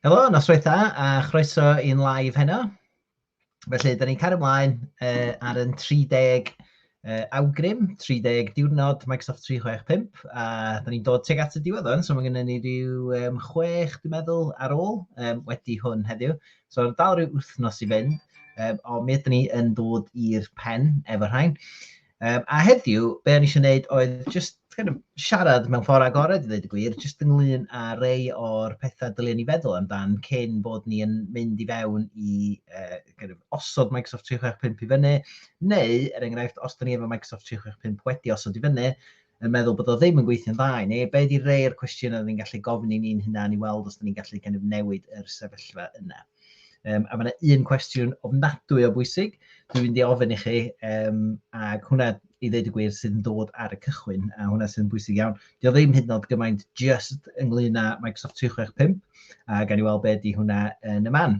Helo, noswaith dda a chroeso i'n live heno. Felly, da ni'n cario ymlaen uh, ar yn 30 uh, awgrym, 30 diwrnod Microsoft 365, a da ni'n dod teg at y diwedd o'n, so mae gennym ni rhyw um, chwech, dwi'n meddwl, ar ôl um, wedi hwn heddiw. So, dal rhyw wythnos i fynd, um, ond mi ydyn ni yn dod i'r pen efo rhain. Um, a heddiw, be o'n eisiau gwneud oedd just kind of, siarad mewn ffordd agored, i ddweud y gwir, just ynglyn â rei o'r pethau dylen ni feddwl amdan cyn bod ni yn mynd i fewn i uh, kind of, osod Microsoft 365 i fyny, neu, er enghraifft, os da ni efo Microsoft 365 wedi osod i fyny, yn meddwl bod o ddim yn gweithio'n dda i ni, be ydy rei o'r cwestiynau rydyn ni'n gallu gofyn i ni'n hunan i weld os ydyn ni'n gallu kind of newid yr sefyllfa yna? Um, a mae yna un cwestiwn ofnadwy o bwysig, dwi'n mynd i ofyn i chi, um, ac hwnna i ddeud y gwir sydd yn dod ar y cychwyn, a hwnna sydd yn bwysig iawn. Dio ddim hyd yn oed gymaint just ynglyn â Microsoft 365, a gan i weld beth di hwnna yn y man.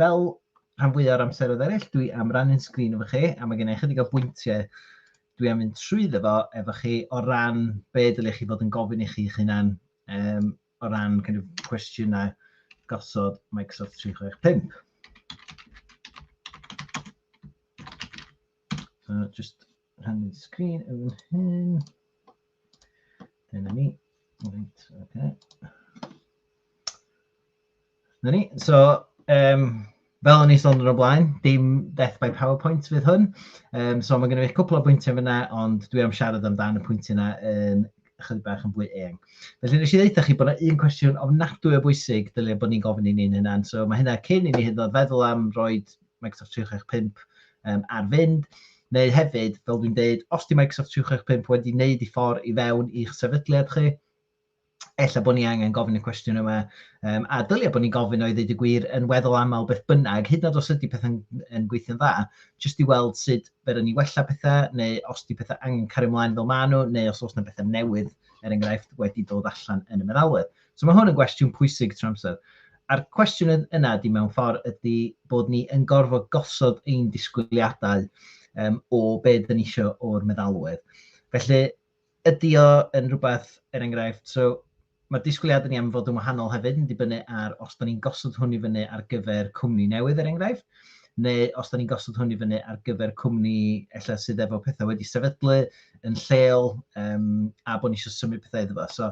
Fel rhan fwya o'r amseroedd eraill, dwi am rannu'n sgrin efo chi, a mae gen i ychydig o bwyntiau dwi am fynd trwy efo, efo chi o ran be dylech chi fod yn gofyn i chi'ch hunan um, o ran kind of, cwestiynau gosod Microsoft 365. So, just rhannu sgrin yn fan hyn. Dyna ni. Right, okay. Dyna ni. So, um, fel o'n i sôn yn o blaen, dim death by PowerPoint fydd hwn. Um, so mae gen i fi cwpl o bwyntiau fyna, ond dwi am siarad amdan y pwyntiau yna yn chydig bach yn fwy eang. Felly nes i ddeitha chi bod yna un cwestiwn ofnadwy o bwysig dylia bod ni'n gofyn i ni'n hynna'n. So mae hynna cyn i ni hyd yn oed feddwl am roed Microsoft 365 um, ar fynd, neu hefyd, fel dwi'n dweud, os di Microsoft 365 wedi wneud i ffordd i fewn i'ch sefydliad chi, ella bod ni angen gofyn y cwestiwn yma, um, a dylia bod ni'n gofyn oedd wedi gwir yn weddol aml beth bynnag, hyd nad os ydy pethau'n yn gweithio'n dda, jyst i weld sut fer ni wella pethau, neu os di pethau angen cario ymlaen fel maen nhw, neu os oes yna bethau newydd, er enghraifft, wedi dod allan yn y meddalwedd. So mae hwn yn gwestiwn pwysig trwy amser. A'r cwestiwn yna ydy mewn ffordd ydy bod ni yn gorfod gosod ein disgwyliadau um, o be dyn ni eisiau o'r meddalwedd. Felly, ydy o yn rhywbeth, er enghraifft, so mae disgwyliadau ni am fod yn wahanol hefyd yn dibynnu ar os da ni'n gosod hwn i fyny ar gyfer cwmni newydd, er enghraifft, neu os da ni'n gosod hwn i fyny ar gyfer cwmni ella sydd efo pethau wedi sefydlu yn lleol um, a bod ni eisiau symud pethau iddo fo. So,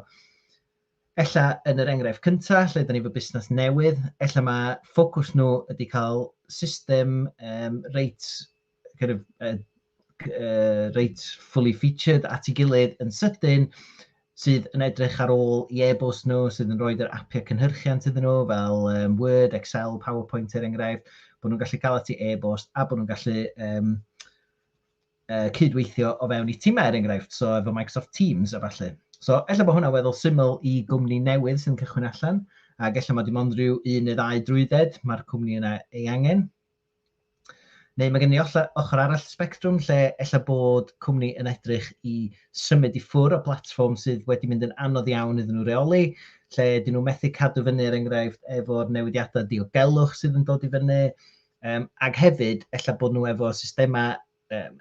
ella yn yr enghraifft cyntaf, lle dyn ni efo busnes newydd, ella mae ffocws nhw ydy cael system um, reit, kind of, uh, uh, reit fully featured at ei gilydd yn sydyn, sydd yn edrych ar ôl i e-bost nhw, sydd yn rhoi yr apiau cynhyrchiant iddyn nhw, fel um, Word, Excel, PowerPoint er enghraifft, bod nhw'n gallu cael at ei e-bost a bod nhw'n gallu um, uh, cydweithio o fewn i timau, er enghraifft, so efo Microsoft Teams a falle. So, efallai bod hwnna'n weddol syml i gwmni newydd sy'n cychwyn allan, ac efallai mae dim ond rhyw un neu ddau drwydded mae'r cwmni yna ei angen. Neu mae gen i ochr arall spectrwm lle efallai bod cwmni yn edrych i symud i ffwr o blatfform sydd wedi mynd yn anodd iawn iddyn nhw reoli, lle dyn nhw methu cadw fyny er enghraifft efo'r newidiadau diogelwch sydd yn dod i fyny, Um, ac hefyd, efallai bod nhw efo systemau um,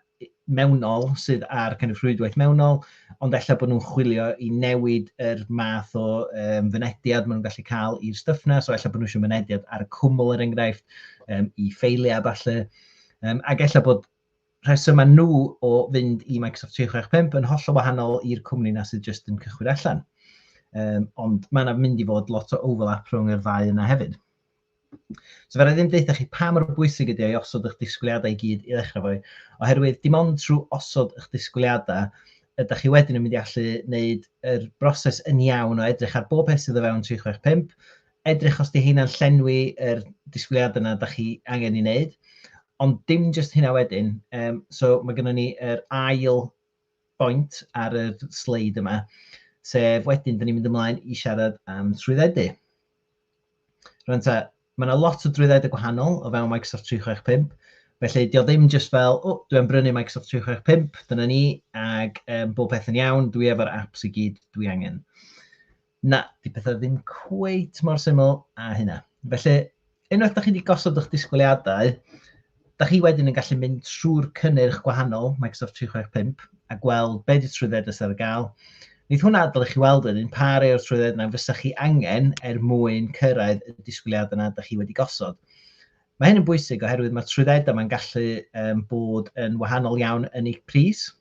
mewnol sydd ar kind of rhwydwaith mewnol, ond efallai bod nhw'n chwilio i newid yr math o um, fynediad maen nhw'n gallu cael i'r stuff na, so efallai bod nhw eisiau mynediad ar y cwmwl er enghraifft, um, i ffeiliau falle, um, ac efallai bod rhesymau nhw o fynd i Microsoft 365 yn holl o wahanol i'r cwmni na sydd jyst yn cychwyn allan. Um, ond mae yna mynd i fod lot o overlap rhwng y ddau yna hefyd. So fydda i ddim deutha chi pa mor bwysig ydy o i osod eich disgwyliadau i gyd i ddechrau fo, oherwydd dim ond trwy osod eich disgwyliadau ydych chi wedyn yn mynd i allu wneud yr broses yn iawn o edrych ar bob peth sydd o fewn 365, edrych os di heina'n llenwi yr disgwyliadau yna ydych chi angen ei wneud, ond dim jyst hynna wedyn, um, so mae gennym ni yr ail bwynt ar y sleid yma, sef wedyn, dyn ni'n mynd ymlaen i siarad am trwyddedu. Rwy'n ta, mae yna lot o drwyddedu gwahanol o fewn Microsoft 365, felly dio ddim jyst fel, o, dwi'n brynu Microsoft 365, dyna ni, ac um, bob peth yn iawn, dwi efo'r apps i gyd dwi angen. Na, 'di pethau ddim cweit mor syml â hynna. Felly, unwaith da chi wedi gosod eich disgwyliadau, da chi wedyn yn gallu mynd trwy'r cynnyrch gwahanol Microsoft 365 a gweld be di trwyddedau sydd ar gael. Nid hwnna adael i chi weld yn un pa rei o'r trwyddedau yna fysa chi angen er mwyn cyrraedd y disgwyliadau yna da chi wedi gosod. Mae hyn yn bwysig oherwydd mae trwyddedau mae'n gallu um, bod yn wahanol iawn yn eu pris.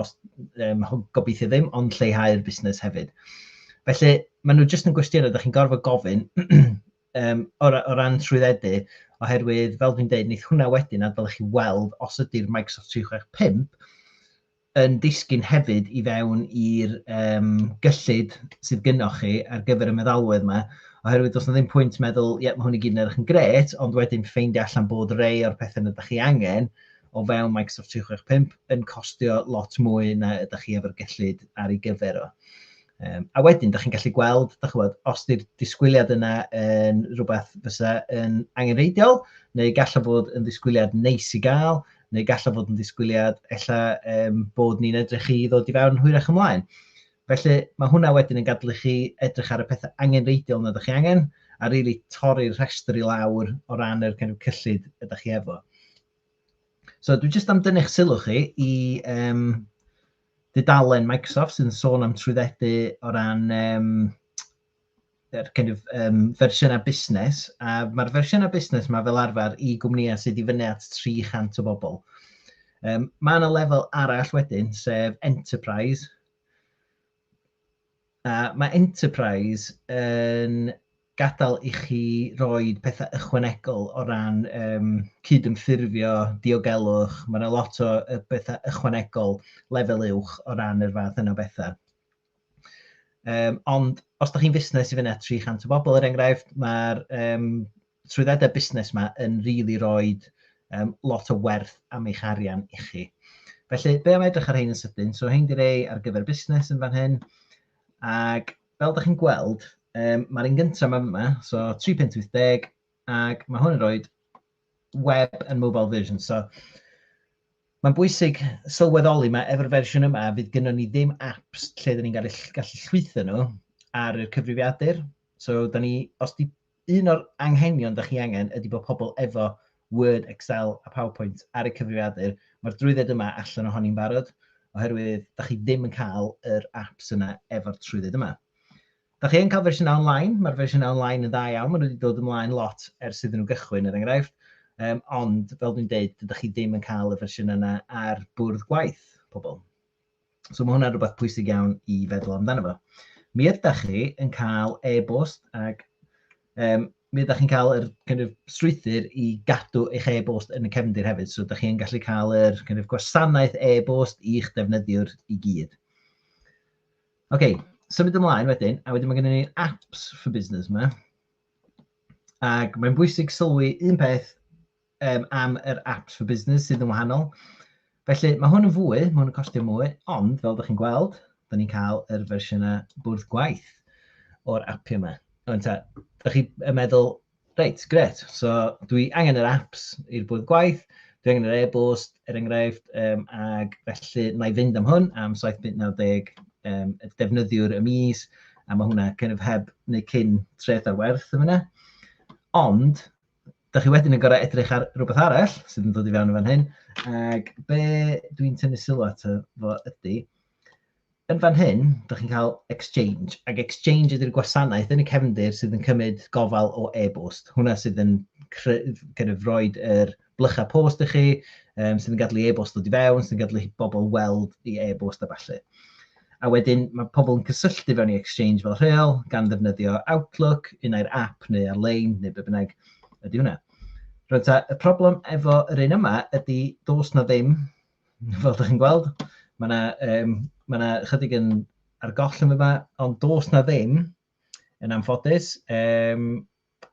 os, um, gobeithio ddim, ond lleihau'r busnes hefyd. Felly, maen nhw jyst yn gwestiynau, da chi'n gorfod gofyn um, o, o ran trwyddedu, oherwydd, fel dwi'n dweud, neith hwnna wedyn, a dylech chi weld os ydy'r Microsoft 365 yn disgyn hefyd i fewn i'r um, gyllid sydd gynnwch chi ar gyfer y meddalwedd yma, oherwydd does na ddim pwynt meddwl, ie, mae hwn i gyd yn edrych yn gret, ond wedyn ffeindio allan bod rei o'r pethau yna ydych chi angen, o fewn Microsoft 365 yn costio lot mwy na ydych chi efo'r gellid ar ei gyfer o. Um, a wedyn, da chi'n gallu gweld, da chi'n gweld, os di'r disgwyliad yna yn rhywbeth fysa yn angenreidiol, neu gallai fod yn ddisgwyliad neis i gael, neu gallai fod yn ddisgwyliad ella um, bod ni'n edrych i ddod i fewn hwyrach ymlaen. Felly mae hwnna wedyn yn gadw chi edrych ar y pethau angenreidiol na ydych chi angen, a rili really torri'r rhestr i lawr o ran yr kind of cyllid ydych chi efo. So, dwi jyst am dynnu'ch sylw chi i um, dudalen Microsoft sy'n sôn am trwyddedu o ran um, er kind of, um, fersiynau busnes. A mae'r fersiynau busnes yma fel arfer i gwmnïau sydd i fyny at 300 o bobl. Um, mae yna lefel arall wedyn, sef Enterprise. A mae Enterprise yn gadael i chi roi pethau ychwanegol o ran um, cydymffurfio, diogelwch, mae yna lot o bethau ychwanegol lefel uwch o ran yr fath yna bethau. Um, ond os da chi'n fusnes i fyna 300 o bobl, er enghraifft, mae'r um, trwyddedau busnes yma yn really roed um, lot o werth am eich arian i chi. Felly, be am edrych ar hein yn sydyn? So, hein di rei ar gyfer busnes yn fan hyn. Ac fel ydych chi'n gweld, um, mae'r un gyntaf yma, yma, so 3.80, ac mae hwn yn rhoi web and mobile version. So, mae'n bwysig sylweddoli mae efo'r fersiwn yma, fydd gynnon ni ddim apps lle dyn ni'n gallu, gallu llwytho nhw ar y cyfrifiadur. So, da ni, os di Un o'r anghenion dych chi angen ydy bod pobl efo Word, Excel a PowerPoint ar eu cyfrifiadur. Mae'r drwydded yma allan ohoni'n barod oherwydd dych chi ddim yn cael yr apps yna efo'r trwydded yma. Dych chi yn cael fersiynau online, mae'r fersiynau online yn dda iawn, maen nhw wedi dod ymlaen lot ers iddyn nhw gychwyn er enghraifft, um, ond fel dwi'n dweud, dydych chi ddim yn cael y fersiynau yna ar bwrdd gwaith pobl. So mae hwnna'n rhywbeth pwysig iawn i feddwl amdano fo. Mi ydych chi yn cael e-bost ac um, mi ydych chi'n cael yr kind of, strwythyr i gadw eich e-bost yn y cefndir hefyd. So ydych chi'n gallu cael yr kind of, gwasanaeth e-bost i'ch defnyddiwr i gyd. Oce, okay, symud ymlaen wedyn, a wedyn mae gennym ni apps for business yma. Ac mae'n bwysig sylwi un peth um, am yr apps for business sydd yn wahanol. Felly, mae hwn yn fwy, mae hwn yn costio mwy, ond fel ydych chi'n gweld, da ni'n cael yr fersiynau bwrdd gwaith o'r appi yma. Ond ta, ydych chi'n meddwl, reit, gret, so dwi angen yr apps i'r bwrdd gwaith, dwi angen yr e-bost, er enghraifft, um, ac felly na i fynd am hwn am 7.90 um, defnyddiwr y mis, a mae hwnna kind of heb neu cyn treth ar werth yma. Ond, da chi wedyn yn gorau edrych ar rhywbeth arall sydd yn dod i fewn yn fan hyn. Ac be dwi'n tynnu sylw at fo ydy, yn fan hyn, da chi'n cael exchange. Ac exchange ydy'r gwasanaeth yn y cefndir sydd yn cymryd gofal o e-bost. Hwna sydd yn kind of, roed yr blychau post i chi, um, sydd yn gadlu e-bost dod i fewn, sydd yn gadlu bobl weld i e-bost a falle. A wedyn mae pobl yn cysylltu fewn i Exchange fel rheol, gan ddefnyddio Outlook, un ai'r app neu ar-lein, neu be bynnag ydy hwnna. Rwy'n ta, y problem efo yr un yma ydy dos na ddim, fel ydych chi'n gweld, mae yna um, ma na chydig yn ar goll yn yma, ond dos na ddim, yn anffodus, um,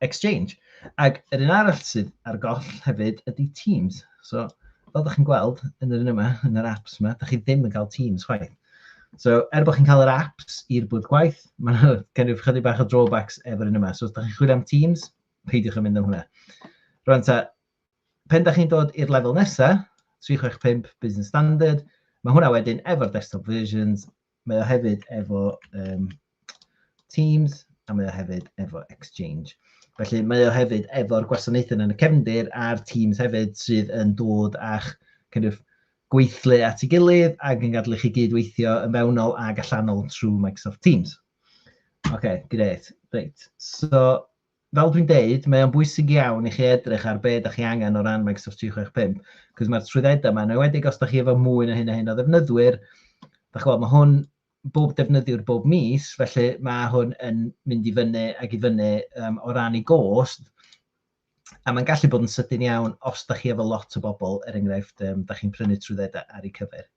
Exchange. Ac yr un arall sydd ar goll hefyd ydy Teams. So, fel ydych chi'n gweld yn yr un yma, yn yr apps yma, ydych chi ddim yn cael Teams chwaith. So, er bod chi'n cael yr apps i'r bwyd gwaith, mae yna gennych chydig bach o drawbacks efo'r un yma. So, os ydych chi'n chwilio am Teams, peidiwch yn mynd am hwnna. Rwan ta, pen da chi'n dod i'r lefel nesaf, 365 Business Standard, mae hwnna wedyn efo'r desktop versions, Mae o hefyd efo um, Teams a mae o hefyd efo Exchange. Felly mae o hefyd efo'r gwasanaethau yn y cefndir a'r Teams hefyd sydd yn dod a'ch kind of, gweithlu at ei gilydd ac yn gadw chi gyd-weithio yn fewnol ac allanol trwy Microsoft Teams. OK, great. Reit. So, Fel dwi'n deud, mae o'n bwysig iawn i chi edrych ar be' 'dach chi angen o ran Microsoft 365, 'c'os ma'r trwyddeda' 'ma, yn enwedig os 'dach chi efo mwy na hyn a hyn o ddefnyddwyr, 'dach ch'mod, ma' hwn bob defnyddiwr bob mis, felly ma' hwn yn mynd i fyny ag i fyny yym o ran 'i gost, a ma'n gallu bod yn sydyn iawn os 'dach chi efo lot o bobl, er enghraifft, yym 'dach chi'n prynu trwyddeda' ar 'u cyfer.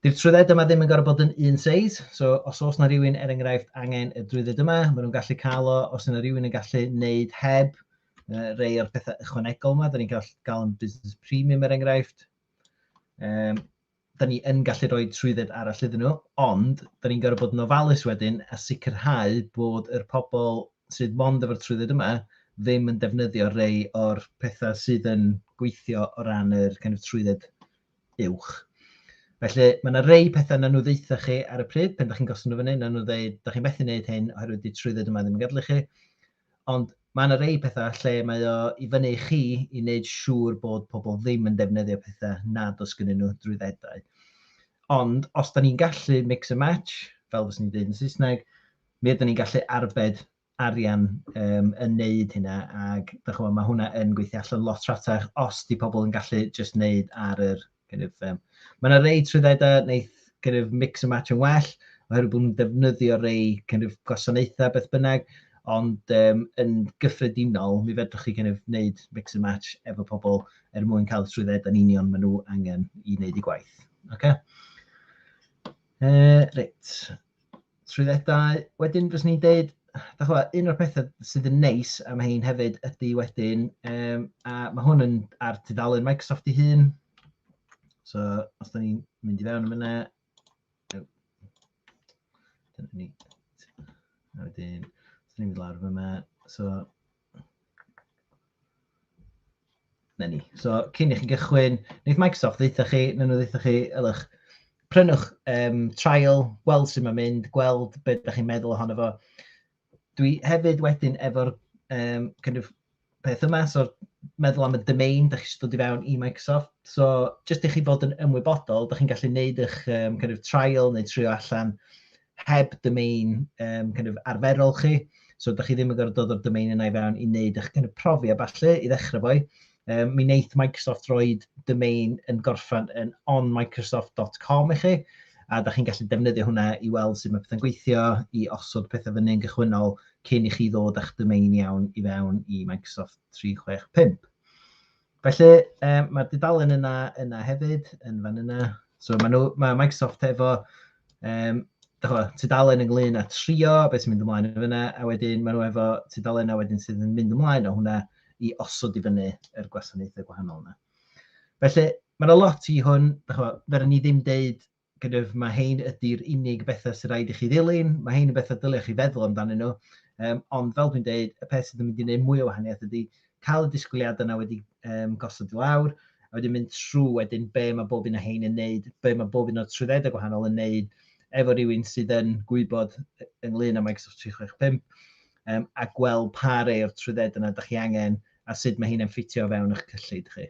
Dy'r trwydded yma ddim yn gorfod bod yn un seis, so os oes na rhywun er enghraifft angen y drwydded yma, maen nhw'n gallu cael o, os yna rhywun yn gallu wneud heb uh, rei o'r pethau ychwanegol yma, da ni'n gallu gael yn business premium er enghraifft. Um, da ni yn gallu rhoi trwydded arall iddyn nhw, ond da ni'n gorfod bod yn ofalus wedyn a sicrhau bod yr pobl sydd mond efo'r trwydded yma ddim yn defnyddio rei o'r pethau sydd yn gweithio o ran yr kind of trwydded uwch. Felly, mae yna rei pethau na nhw ddeitha chi ar y pryd, pen da chi'n gosod nhw fyny, na nhw ddeud, da chi'n methu wneud hyn oherwydd di trwydded yma ddim yn gadlu chi. Ond mae yna rei pethau lle mae o i fyny i chi i wneud siŵr bod pobl ddim yn defnyddio pethau nad os gynnyn nhw drwyddedau. Ond os da ni'n gallu mix and match, fel fes ni'n dweud yn Saesneg, mi ydyn ni'n gallu arbed arian um, yn neud hynna ac dych chi'n mae hwnna yn gweithio allan lot rhatach os di pobl yn gallu just neud ar yr kind of, um, mae yna rei trwyddedau wneud kind of mix and match yn well oherwydd bod nhw'n defnyddio rei kind of gwasanaethau beth bynnag ond um, yn gyffredinol mi fedrwch chi kind of wneud mix and match efo pobl er mwyn cael trwydded yn union maen nhw angen i wneud i gwaith. Okay? Uh, reit. trwyddedau. Wedyn fyswn i'n deud, da chwa, un o'r pethau sydd yn neis am hyn hefyd ydy wedyn, um, a mae hwn yn ar tudalen Microsoft ei hun. So, os da ni'n mynd i fewn am yna, dyna ni. A wedyn, os da ni'n mynd lawr yma, so, Na ni. So, cyn i chi gychwyn, wneud Microsoft ddeitha chi, na nhw ddeitha chi, ylwch, prynwch um, trial, gweld sy'n mynd mynd, gweld beth ydych chi'n meddwl ohono fo. Dwi hefyd wedyn efo'r um, kind of, peth yma, so meddwl am y domain, da chi eisiau dod i fewn i Microsoft. So, jyst i chi fod yn ymwybodol, da chi'n gallu gwneud eich um, kind of trial neu trio allan heb domain um, kind of arferol chi. So, da chi ddim yn gorfod dod o'r domain yna i fewn i wneud eich kind of profi a falle i ddechrau fo. Um, mi wneud Microsoft roed domain yn gorffan yn onmicrosoft.com i chi, a da chi'n gallu defnyddio hwnna i weld sut mae pethau'n gweithio, i osod pethau fyny yn gychwynnol cyn i chi ddod â'ch domain iawn i fewn i Microsoft 365. Felly, um, mae'r dudalen yna, yna hefyd, yn fan yna. So mae, nhw, mae Microsoft efo um, chwa, tudalen ynglyn â trio beth sy'n mynd ymlaen yn fyna, a wedyn maen nhw efo tudalen a wedyn sydd yn mynd ymlaen o hwnna i osod i fyny yr gwasanaethau gwahanol yna. Felly, mae'n yna lot i hwn, fe rydyn ni ddim deud kind of, mae hein ydy'r unig bethau sy'n rhaid i chi ddilyn, mae hein yn bethau dylech chi feddwl amdanyn nhw, um, ond fel dwi'n dweud, y peth sydd yn mynd i wneud mwy o wahaniaeth ydy cael y disgwyliadau yna wedi um, gosod i lawr, a wedyn mynd trwy wedyn be mae bob un o hein yn neud, be mae bob un o'r trwyddedau gwahanol yn neud, efo rhywun sydd yn gwybod ynglyn â Microsoft 365, um, a gweld pa rei o'r trwyddedau yna ydych chi angen, a sut mae hyn yn ffitio fewn eich cyllid chi.